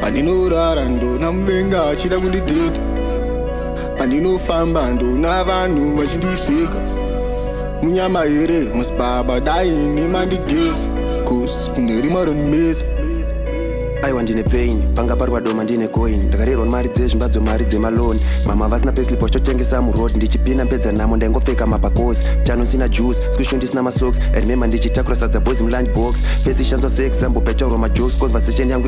Pandinorara ndona muvenga achida kundidhedha Pandinofamba ndona vanhu vachindiseka Munyama here musibaba dai nemandigezi Cause kune rima ronimesa aiwa ndine pain panga parwa doma ndine coin ndakarerwa mari dzezvimba dzomari dzemaloni mama vasina peslip wachitotengesa muroad ndichipina mpedza namo ndaingopfeka mapakosi chano sina juice squisho ndisina masox remember ndichitakura sadza boys mulunch box pesi shanzwa seexample paitaurwa majokes conversation yangu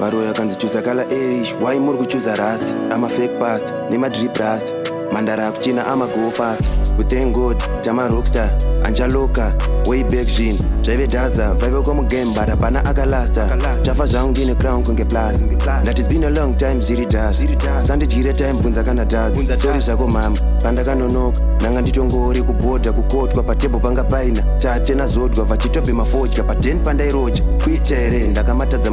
Varoyi akanzi chuza kala eish why muri kuchuza rust ama fake past nemadrip rust mandara akuchina ama go fast we thank god tama rockstar anjaloka way back zvinhu zvaive daza vaive kwamugame but hapana akalasta chafa zvangu ndine crown kunge plus that is been a long time zviri das sandidyire time bvunza kana dadza sori zvako mama pandakanonoka ndanga nditongori kubhodha kukotwa patebho panga paina tate nazodwa vachitobhema fodya paden pandairoja kuita here ndakamatadza